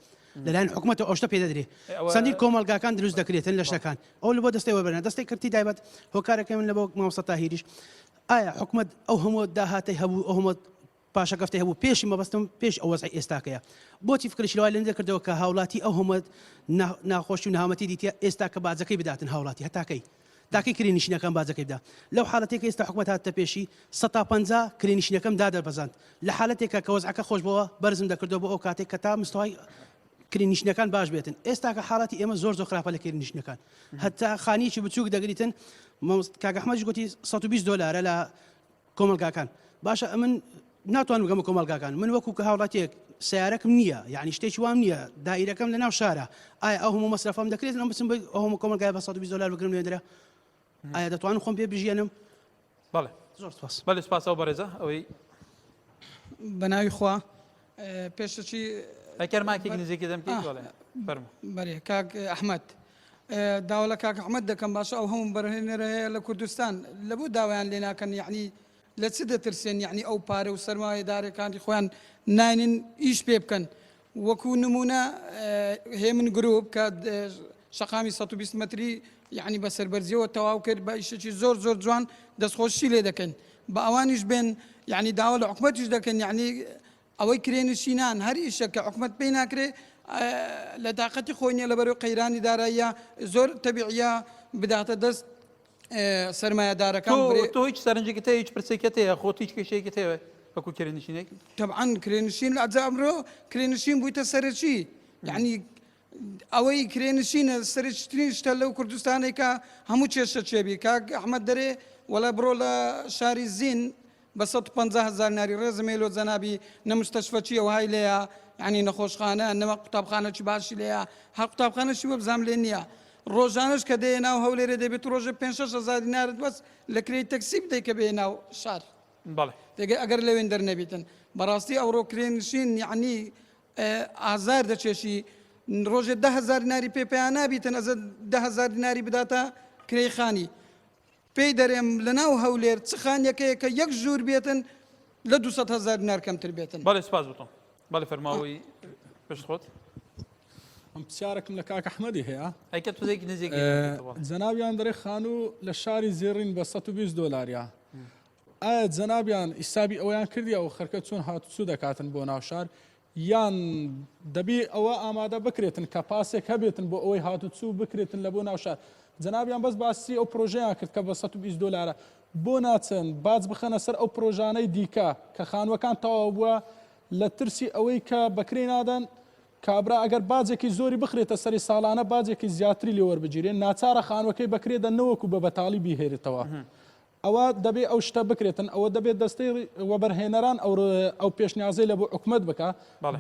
لەلایەن حکومەتەوە ئەو شتە پێ دەدرێ ئێ ئەوە چەندین کۆمەڵگاکان دروست دەکرێتن لە بەڵێ شتەکان ئەو لە بۆ دەستەی وەبەرە دەستەی کەرتی تایبەت هۆکارەکەی من لە بۆ مامۆستا تاهیریش ئایا حکومەت ئەو هەموو داهاتەی هەبوو ئەو هەموو پاشەکەفتەی هەبوو پێشی مەبەستم پێش ئەو وەزعی ئێستاکەیە بۆچی فکری شلوای لەنی دەکردەوە کە هاوڵاتی ئەو هەموو ناخۆشی و نهامەتی دیتە ئێستا کە باجەکەی بداتن هاوڵاتی هەتاکەی تاکەی کرێنشینەکان باجەکەیدا لەو حالەتێک ئێستا حکومەت هاتە پێشی 150 کرێنشینەکەم دادەبەزاند لە حالەتێکە کە وەزعەکە خۆش بەوە بەرزم دەکردەوە بۆ ئەو کاتێک کە تا مستەوای کرینیشنەکان باش بێتن ئێستاکە حاڵاتی ئێمە زۆر زۆر خراپە لە کرینیشنەکان هەتا خانیی بچووک دەگریتن کاگەحمەش گوتی 120 دلارە لە کۆمەڵگاکان باشە ئەمن ناتوان بگەمە کۆمەلگاکان من وەکو کە هاوڵاتێک سیارەکم نییە یعنی شتێکی وام نییە دایرەکەم لە ناو شارە ئایا ئەو هەموو مەسرفم دەکرێت ئەم بچم ئەوم کۆمەلگای بە 120 دلار بگرم نوێنرە ئایا دەتوانم خۆم پێ بژێنم بەڵێ زۆر سپاس بەڵێ سپاس ئەو بەڕێزە ئەوەی بەناوی خوا پێشەچی ئەکەر ماکی گنجێکی دەم فەرمو بەێ کاک ئەحمد داوا لە کاک ئەحمد دەکەم باشە ئەو هەموو بەرهێنەرە هەیە لە کوردستان لە بۆ داوایان لێ ناکەن یعنی لە چ دەترسێن یعنی ئەو پارە و سەرمایە دارەکانی خۆیان ناینن ئیش پێ بکەن وەکو نمونە هێمن گرروپ کە شەقامی سەد و بیست مەتری یعنی بە سەربەرزیەوە تەواو کرد بە ئیشەکی زۆر زۆر جوان دەستخۆشی لێ دەکەین بە ئەوانیش بێن یعنی داوا لە حکوومەتیش دەکەن یعنی ئەوەی کرێنشینان هەر ئیشە کە حکوومەت پێی ناکرێ لە داقەتی خۆی نیە لەبەرو قەیرانی داراییە زۆر تەبیعە بداتە دەست سرمایهدارەکان تۆ هیچ سەرنجێکی تە هیچ پرسێکە تەیە خۆ هیچ کێشەیەکی تەوێت وەکو کرێنشینێک تەعاان کرێنشین لە ئەجامرۆ کرێنشین بوویتە سەرەکی یعنی ئەوەی کرێنشینە سەرچترین شتە لەو کوردستانی کە هەموو کێشە چێبی کاک ئەحمد دەرێ وەلا بڕۆ لە شاری زین بە 150 هزار ناری ڕێزم لۆ جەنابی نە مستەشفەچی ئەو های لەیە ینی نەخۆشخانە نەوە قوتابخانە چی باشی لەیە هەر قوتابخانەشی وە بزانام لێ نییە ڕۆژانش کە دێ ناو هەولێرە دەبێت ڕۆژە 500 هزار نارد بەس لە کرێی تەکسی بدەیت کە بێ ناو شار دەگە ئەگەر لەوێن دەرنەبیتن بەڕاستی ئەوڕۆ کرێنشین یعنی ئازار دەچێشی ڕۆژێ ده هزار دیناری پێ پێیان نابی تەنەزە ده هزار دیناری بداتە کرێی خانی پێی دەرێم لە ناو هەولێر چ خانیەکەیە کە یەک ژوور بێتن لە 200 هزار دینار کەمتر بێتن بەڵێ سپاس بتم بەڵێ فەرماوەی پشت خۆت ئەم پرسیارەکەم لە کاک ئەحمەدی هەیە ئەیکە تزێک نزیک جەناویان دەرێ خانوو لە شاری زێڕین بە 120 دلاریا ئایا جەنابیان حیسابی ئەوەیان کردیە و خەرکە چۆن هاتوچو دەکاتن بۆ ناو شار یان دەبی ئەوە ئامادە بکرێتن کە پاسێک هەبێتن بۆ ئەوەی هاتوچو بکرێتن لە بۆ ناو شار جەنابیان بەس باسی ئەو پرۆژەیان کرد کە بە 120 دلارە بۆ ناچن باج بخەنە سەر ئەو پرۆژانەی دیکە کە خانوەکان تەواو بووە لە ترسی ئەوەی کە بەکرێ نادەن کابرا ئەگەر باجێکی زۆری بخرێتە سەری ساڵانە باجێکی زیاتری لێوەربگیرێن ناچارە خانوەکەی بەکرێدە نەوەکو بە بەتاڵی بیهێرێتەوە ئەوا دەبێ ئەو شتە بکرێتن، ئەوە دەبێ دەستەی وەبەرهێنەران ئەو ئەو پێشنیازەی لە بۆ حکومەت بکا،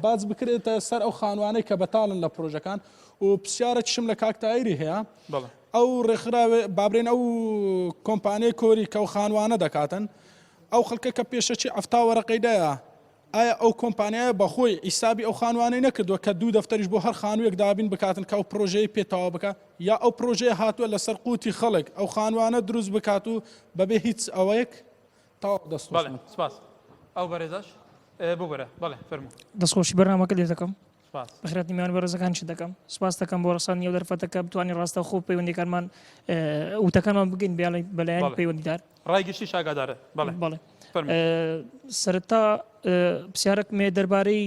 باج بکرێتە سەر ئەو خانوانەی کە بەتاڵن لە پرۆژەکان و پرسیارەکیشم لە کاک تایری هەیە، ئەو ڕێکخراوێ با برێن ئەو کۆمپانیای کۆری کە ئەو خانوانە دەکاتن، ئەو خەڵکە کە پێشەکی عەفتا وەرەقەی دایە، ئایا ئەو کۆمپانیایە بەخۆی حیسابی ئەو خانووانەی نەکردووە کە دوو دەفتەریش بۆ هەر خانوویەک دابین بکاتن کە ئەو پڕۆژەیەی پێ تەواو بکات؟ یا ئەو پڕۆژەیە هاتووە لەسەر قوتی خەڵک ئەو خانووانە دروست بکات و بەبێ هیچ ئەوەیەک؟ تەواو دەست خۆش. بەڵێ سپاس. ئەو بەرێزەش ببورە بەڵێ فەرموو. دەستخۆشی بەرنامەکە لێدەکەم. سپاس. بەخیرات نی میوان بەرزەکان چ دەکەم سپاس دەکەم بۆ ڕسانی ئەو دەرفەتە کە بتوانین ڕاستە خۆ پەیوەندەکانمان وتەکانمان بگەین بیاڵی بەلایەن پەیوەندیدار ڕای گشتی شاگادارە بەڵێ بەڵێ سەرتا پرسیارەک مێ دەربارەی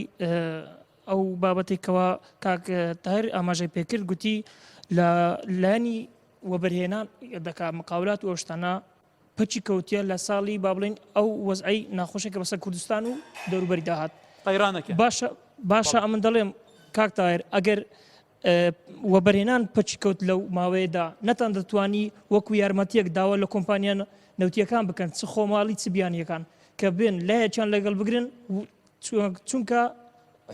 ئەو بابەتێکەوە کاک تایر ئاماژەی پێکرد گوتی لە لانی وەبەرهێنان دەکا مقاولات و ئەوشتانە پەکی کەوتیە لە ساڵی با بڵێن ئەو وەزعەی ناخۆشێکە بەسەر کوردستان و دەوروبەری داهات قەیرانەکە باشە باشە ئەمن دەڵێم کاک تاهر ئەگەر وەبەرهێنان پەچی کەوت لەو ماوەیەدا نەتان دەتوانی وەکو یارمەتیەک داوا لە کۆمپانیان نەوتیەکان بکەن چ خۆماڵی چ بیانیەکان کە بێن لایەکیان لەگەڵ بگرن چونکە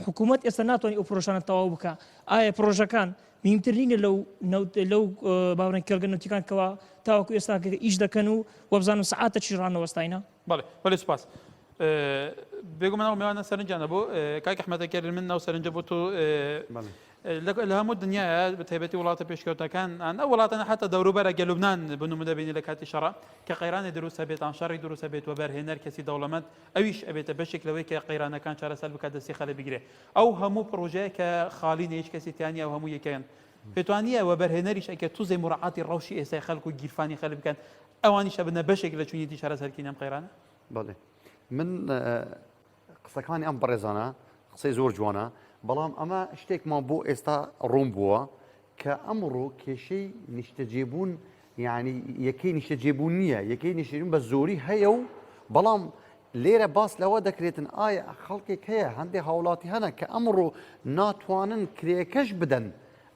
حکوومەت ئێستا ناتوانانی ئەو پرۆژانە تەواو بکە ئایا پرۆژەکان میمتر نینە لەو لەو باورن کێڵگە نوتیکان کەەوە تاوەکو ئێستا ئیش دەکەن و وەبزانم سعاتە چی ڕانەوەستاینە بەڵێ بەێ سپاس. بێگومە ناو میوانە سەرنجانە بۆ کاک حمەتەکە من ناو سەرنجە بۆ تۆ لە هەموو دنیا بە تایبەتی وڵاتە پێشکەوتەکان ئەە وڵاتەنە حتا دەوروبەرە گەلوبناان بنومدەبینی لە کاتی شەڕ کە قەیرانی دروستە بێتان شەڕی دروستە بێت و بەرهێنەر کەسی دەوڵەمەند ئەویش ئەبێتە بەشێک لەوەی کە قەیرانەکان چارەسەر بکات دەستی خەلک بگرێ ئەو هەموو پرۆژەیە کە خاڵینە هیچ کەسی تیا نیە و هەموو یەکەیەن پێتوانیە وەبەرهێنەریش ئەکرێت توزێ موراعاتی ڕەوشی ئێستای خەلک و گیرفانی خەلک بکەن ئەوانیش ئەبنە بەشێک لە چونیەتی چارەسەرکردنی ئەم قەیرانە. بەڵێ من قسەکانی ئەم بەڕێزانە قسەی زۆر جوانە بەڵام ئەمە شتێکمان بۆ ئێستا ڕوون بووە کە ئەمڕۆ کێشەی نیشتەجێبوون یعنی یەکەی نیشتەجێبوون نییە یەکەی نیشتەجێبوون بە زۆری هەیە و بەڵام لێرە باس لەوە دەکرێتن ئایا خەڵکێک هەیە هەندێک هاوڵاتی هەنە کە ئەمڕۆ ناتوانن کرێکەش بدەن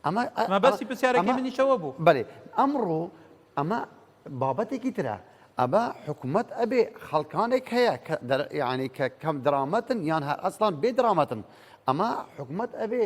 ئەمە بەسی پرسیارەکە منیشەوە بوو بەێ ئەمڕۆ ئەمە بابەتێکی ترە ئەمە حکوومەت ئەبێ خەڵکانێک هەیە یعنی کە کەم درامەتن یان هەر ئەسلان بێ درامەتن ئەمە حکوومەت ئەبێ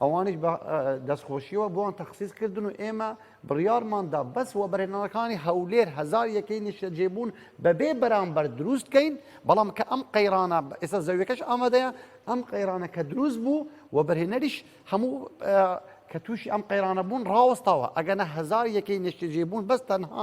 ئەوانیش بە دەستخۆشیەوە بۆن تەخسیس کردن و ئێمە بڕیارماندا بەس وە بەرهێنانەکانی هەولێر هزار یەکەی نیشتەجێبوون بەبێ بەرامبەر دروستکەین بەڵام کە ئەم قەیرانە ئێستا زەویەکەش ئامادەیە ئەم قەیرانە کە دروست بوو و بەرهێنەریش هەموو کە تووشی ئەم قەیرانە بوون ڕاوەستاوە ئەگەنە هزار یەکەی نیشتەجێبوون بەس تەنها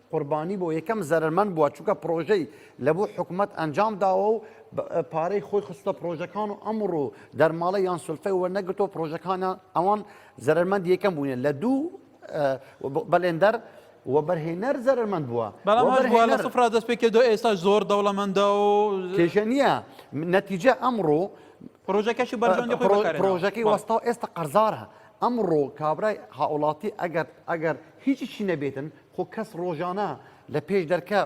قوربانی بۆ یەکەم زەرەرمەند بووە چونکە پرۆژەی لە بۆ حکوومەت ئەنجام داوە و پارەی خۆی خستە پرۆژەکان و ئەمڕۆ دەرماڵە یان سلفەی وەرنەگرتۆ پرۆژەکانە ئەوان زەرمەند یەکەم بوونە لە دوو بەلێندەر وەبەرهێنەر زەرمەند بووە بەڵام سفرا دەست پێ کردو ئێستا زۆر دەوڵەمەندە و کێشە نییە نەتیجە ئەمڕۆ پرۆژەکەشی بەرژەندی پرۆژەکەی وەستا ئێستا قەرزارە ئەمڕۆ کابرای هاوڵاتی ئەگەر ئەگەر هیچیشی نەبێتن خۆ کەس ڕۆژانە لە پێش دەرکە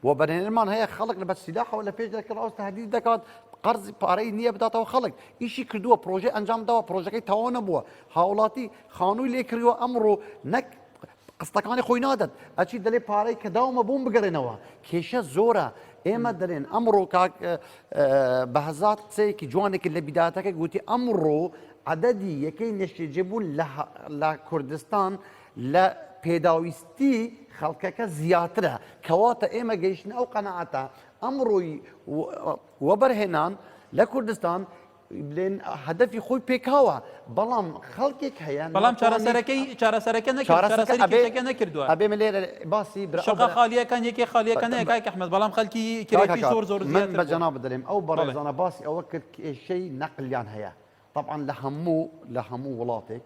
بۆ بەرێنەرمان هەیە خەڵک لە بەسیداحەوە لە پێش دەرکە ڕاست تهدید دەکات قەرز پارەی نییە بداتەوە خەڵک ئیشی کردووە پرۆژه ئەنجام داوە پرۆژەکەی تەواو نەبووە هاوڵاتی خانووی لێ کردووە ئەمڕۆ نەک قستەکانی خۆی نادەن ئەچی دەلێ پارەی کە داومە بۆم بگەرێنەوە کێشە زۆرە ئێمە دەلێن ئەمڕۆ کاک بە هەزار قسەیەکی جوانێکی لە بیداتەکە گوتی ئەمڕۆ عددی یەکەی نەشتێجێبوون لە کوردستان لە پێداویستی خەڵکەکە زیاترە، کەواتە ئێمە گەیشتنە ئەو قەناعەتە ئەمڕۆی وەبەرهێنان لە کوردستان بلێن هەدەفی خۆی پێکاوە بەڵام خەڵکێک هەیە بەڵام چارەسەرەکەی چارەسەرەکە نەکارەسەرەکە نەکردووە ئەبێ من لێرە باسی شقا خالیەکان یەکی خالیەکە نەکای ئەحمد بەڵام خەلکی کرێکی زۆر زۆر من بە جەنا بدەێم ئەو بەڕێزانە باسی ئەوە کرد کێشەی نەقلیان هەیە طبعا لە هەموو لە هەموو وڵاتێک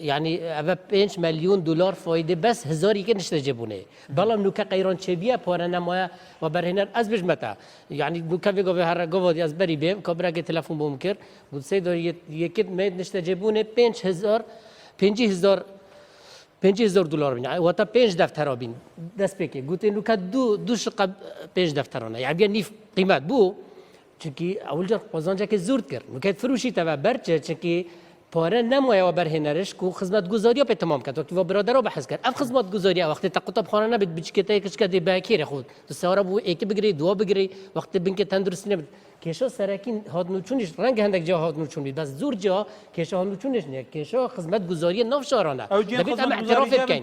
یانی ئەڤە پێنج مەلیون دولار فایدە بەس هزاری کە نشتە جێ بونێ. بەڵام نوکە قەیران چێ بیە پارە نەمایە و بەرهێنەر ئەز بژمەتە. یانی نوکە ڤێ گۆڤێ هەرە گۆڤا دی ئەز بەری بێم کابرا گێ تەلەفون بۆم کرد گوت سەی دار یە کرد مێ نشتە جێ بونێ پێنج هزار پێنجی هزار پێنجی هزار دولار بین واتە پێنج دەفتەرا بین دەست پێکێ گوتێ نوکە دوو دوو شقە پێنج دەفتەرانە یانی نیف قیمەت بوو چکی ئەولجە قۆزانجەکە زورد کرد وکەت فروشی تەوە بەرچە چکی پارە نەمایەوە بەرهێنەرش کو خزمەت گوزاریە پێ تەمام کەت وەکی وە برادەرەوە بەحس کرد ئەف خزمەت گوزاریە وەختی تە قوتەب خانە نەبێت بچکێتەیە کچکە دێ بەکێرە خود سارە بوو ئێکی بگری دوا بگری وەختی بنکە تەندروستی نەبێت کێشە سەرەکین هاتنوچونیش ڕەنگ هەندێک جا هاتنوچون بی بەس زور جا کێشە هاتنوچونیش نیە کێشە خزمەت گوزاریە ناو شارانە دەبێت ئەم اعتراف بکەین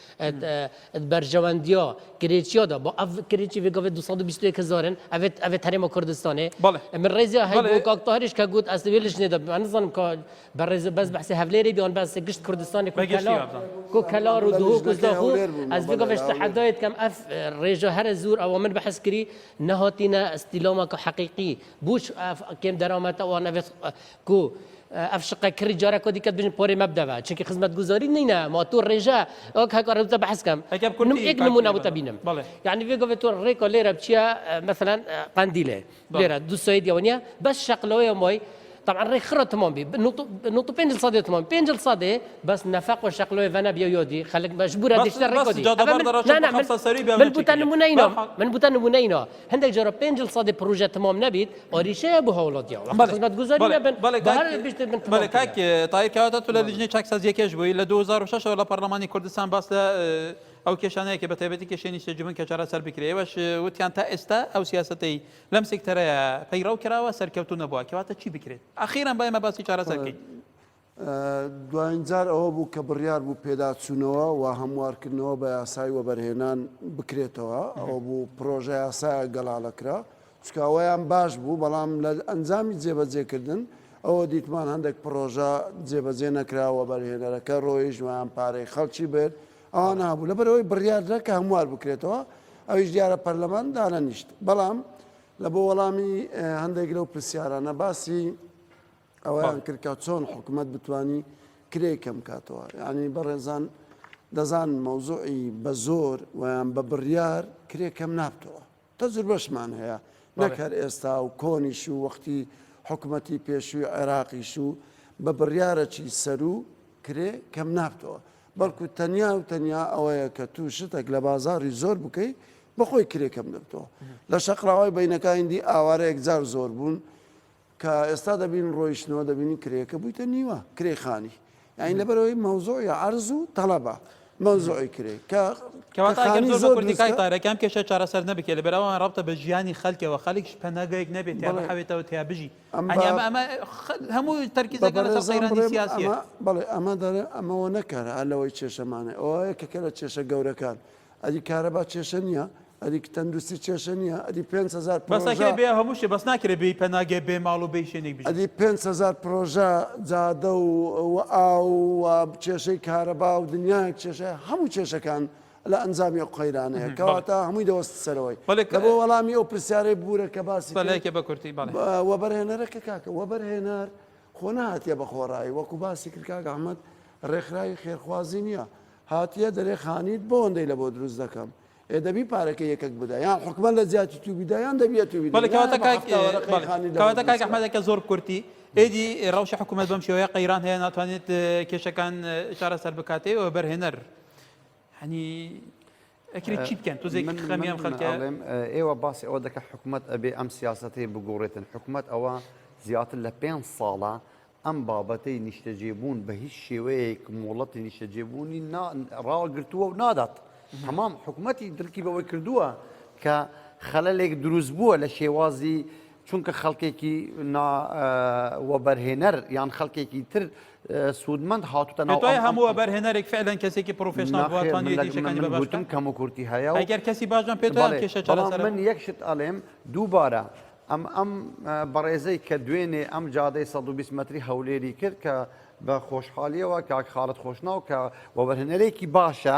ات بەرژەوەندیۆ گرێچیۆ دە بۆ ئەڤ کرێچی ڤێ گەڤێ دو سەد و بیست و یەک هزارن ئەڤێت ئەڤێت هەرێمە کوردستانێ بەڵێ من ڕێزیا هەی بەڵێ بۆ کاک تاهریش کە گوت ئەس وێلش نێدە من نزانم کە بە ڕێز بەس بەحسێ هەڤلێرێ بیان بەس گشت کوردستانی کو بەگشتی کەلا وابزان کو کەلار و دهۆک و لیژنەکەی زاخۆ هەولێر بوو ئەس مامەڵێ ڤێگەڤێش هەولێر تەحەدایت کەم ئەف ڕێژە هەرە زوور ئەوە من بەحس کری نەهاتینە ئستیلاماکە حەقیقی بووش ئەف کێم دەرامەتە وان ئەڤێت گو اف شقە کڕی جارا کۆدی کەت بژن پۆرێ مەبدە بە چونکی خزمەت گوزاری نینە ما تو ڕێژە ئەو کە کار بە حەز کەم ئەگەر کورتی نم ئێک نمونە بۆتە بینم بەڵێ یعنی بێ گۆێ تۆ ڕێکۆ لێرە بچیە مثلا قندیلێ بەڵێ. لێرە دو سوید یەوەنە بەس شەق لەوەیە مۆی طبعا ڕێ خڕە تمام بی نوت نوت و پێنج سەدێ تمام پێنج سەدێ بەس نەفەق و شەق لەوەی ڤەنە بیا یۆدی خەلک مەجبورە بەس دێشتە بەس ڕێکۆدی جادە ئەبە بەر من دەڕۆشە نا نا بۆ من حەفسە سەری بێ من بوتە نمونە ئینۆ بەرحاڵ من بوتە نمونە ئینۆ هەندێک جۆرە پێنج جل سەدی پروژە تمام نەبیت ئۆریشەیە بۆ هەوڵۆدیا خزمەت گوزاری نەبن تایکاتە تو لە لیژنەی چاکسازیەکەش بووی لە 2006 لە پەرلەمانی کوردستان باس لە ئەو کێشانەیەکە بە تایبەتی کێشێنی سێجبن کە چارە سەر بکرێوەش وتیان تا ئێستا ئەو سیاستەی لەم سکتەرەیە پەیڕەو کراوە سەرکەوتو نەبووە کەواتە چی بکرێت ئەخیران بایمە باسی چارەسەرکەین دوایین جار ئەوە بوو کە بڕیار بوو پێداچوونەوە و هەموارکردنەوە بە یاسای وەبەرهێنان بکرێتەوە، ئەوە بوو پڕۆژەیاسایەک گەڵاڵەکرا، چونکە ئەوەیان باش بوو، بەڵام لە ئەنجامی جێبەجێکردن ئەوە دیتمان هەندێک پڕۆژە جێبەجێ نەکرا، وەبەرهێنەرەکە رۆیشت و یان پارەی خەڵکی برد، ئەوانە هەبوو. لەبەرئەوەی بڕیاردرا کە هەموار بکرێتەوە، ئەویش دیارە پەرلەمان دانەنیشت. بەڵام لە بۆ وەڵامی هەندێک لەو پرسیارانە باسی ئەوەیان کرد کە چۆن حکومەت بتانی کرێی کەم کاتەوە یعنی بەڕێزان دەزان مەوزوعی بە زۆر ویان بە بڕیار کرێ کەم نابتەوە تەجر بەشمان هەیە نەکەر ئێستا و کۆنیش و وەختی حکوومەتی پێشووی عێراقیش و بە بڕیارەکی سەرو کرێ کەم نابتەوە بەڵکو تەنیا و تەنیا ئەوەیە کە تو شتێک لە بازاری زۆر بکەیت بەخۆی کرێ کەم دەبتەوە لە شەقراوای بینەکانی دی ئاوارەیەک جار زۆر بوون کە ئێستا دەبین ڕۆیشتنەوە دەبینین کرێکە بوویتە نیوە کرێی خانی یعنی لەبەرەوەی مەوزوعە عرض و طلبە مەوزوعی کرێ کە کەواتە ئەگەر زۆر زۆر کوردی کای تارەکان کێشە چارەسەر نەبکێ لە بەراوان ڕابتە بە ژیانی خەلکەوە خەلکش پەناگەیەک نەبێت یا بەڵێ. بحەوێتەوە تیا بژی ئەمە- ئەنی ئەمە ئەمە خ- هەموو تەرکیزەکە لەسەر بەڕێزان قەیرانی بڵێم سیاسیە ئەمە بەڵێ ئەمە دەرێ ئەمەوە نەکەرە هەر لەوەی کێشەمانێ ئەوەیە کە کە لە کێشە گەورەکان ئەری کارەبا کێشە نیە ئەری تەندوستی کێشە نیە ئەری پێنج هەزار بەس پرۆژە ئەکرێ بێ هەموو شتێ بەس ناکرێ بێی پەناگە بێ ماڵ و بێی شوێنێک بژی. ئەدی پێنج هەزار پرۆژە جادە و و ئاو و کێشەی کارەبا و دنیایەک کێشە هەموو کێشەکان لە ئەنجامی ئەو قەیرانەیە بەڵێ کەواتە هەمووی دەوەستە سەرەوەی بەڵێ ک لەبۆ وەڵامی ئەو پرسیارەی بورە کە باسی کرد سەلەیکە بە کورتی بەڵێ. بە وەبەرهێنەرەکە کاکە وەبەرهێنەر خۆ نەهاتیە بە خۆڕایی وەکو باسی کرد کاک ئەحمەد رێکخراوی خێرخوازی نیە هاتیە دەرێ خانیت بۆ ئەندەی لە بۆ دروست دەکەم ئێ دەبی پارەکە یەکەک بدا یان حکومە لە جیاتی تو بیدا یان دەبیە تو کاک ئەحمەدەکە زۆر کورتی ئێدی ڕەوشە حکوومەت بەم شێوەیە قەیران هەیە ناتوانێت کێشەکان چارەسەر بکاتێ و بەرهێنەر هەنی ئەکرێ چی بکەن تۆزێک من خەمی ئەم خەلکە ئەڵێم ئێوە باسی ئەوە دەکە حکومەت ئەبێ ئەم سیاستەی بگوڕێتن حکومەت ئەوە زیاتر لە پێ ساڵە ئەم بابەتەی نیشتەجێبوون بە هیچ شێوەیەک مۆڵەتی نیشتەجێبوونی ڕاگرتووە و نادات هەمام حکوومەتتی درکی بەوەی کردووە کە خەلەلێک دروست بووە لە شێوازی چونکە خەڵکێکی نا وەبەرهێنەر یان خەڵکێکی تر سوودمەند هاتوتە ناو پێتوای هەموو وەبەرهێنەرێک فعلا کەسێکی پرۆفێشناڵ بووە ناخێر من توانیویەتی لەگەڵ شتەکانی من بە من باشتر گوتم کەم و کورتی هەیە و ئەگەر کەسی باش بم پێتوایە بەڵێ کێشە بەڵام چارەسەرە من یەک شت ئەڵێم دووبارە ئەم ئەم ئە، بەڕێزەی کە دوێنێ ئەم جادەی 120 مەتری هەولێری کرد کە بە خۆشحالیەوە کاک خاڵد خۆشناو کە وەبەرهێنەرێکی باشە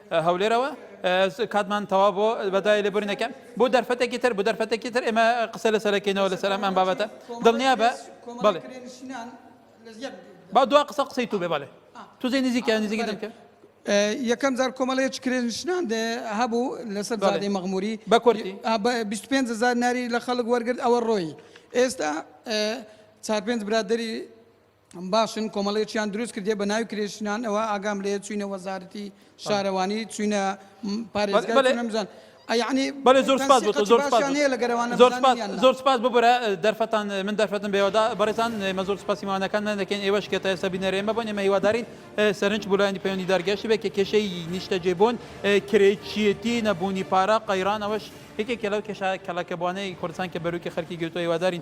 هەولێرەوە کاتمان تەوا بۆ بەدای لێ بورینەکە بۆ دەرفەتێکی تر بۆ دەرفەتێکی تر ئێمە قسە لەسەرەکەینەوە لەسەر ئەم ئەم بابەتە دڵنیا بە بڵێ با دوا قسە قسەی تو بێ بەڵێ تو زی نزیکە نزیکی دەکە یەکەم جار کۆمەڵەیەک کرێنشنان هەبوو لەسەر زادی مەغموری بە کوردی 25 زار ناری لە خەڵک وەرگرت ئەوە ڕۆی ئێستا چار پێنج برادری باشن کۆمەڵەیەکیان دروست کردیە بە ناوی کرێشنان ئەوە ئاگام لێ چوینە وەزارەتی شارەوانی چوینە پارێزگەمزان ئەیانی بەێ زۆر سپاس بۆ زۆر زۆر سپاس ببرە دەرفەتان من دەرفەتم بێوەدا بەڕێزان مە زۆر سپاسیمانەکان نەکەن ئێوەش کێتە ئێستا بینەرێمە بۆ نێمە هیوادارین سەرنج بولایانی پەیوەندی دارگەشت بێت کە کێشەی نیشتەجێ بوون کرێچیەتی نەبوونی پارە قەیرانەوەش یەکێک لەو کێشە کەڵەکەبووانەی کوردستان کە بەروکی خەرکی گرتووە هیوادارین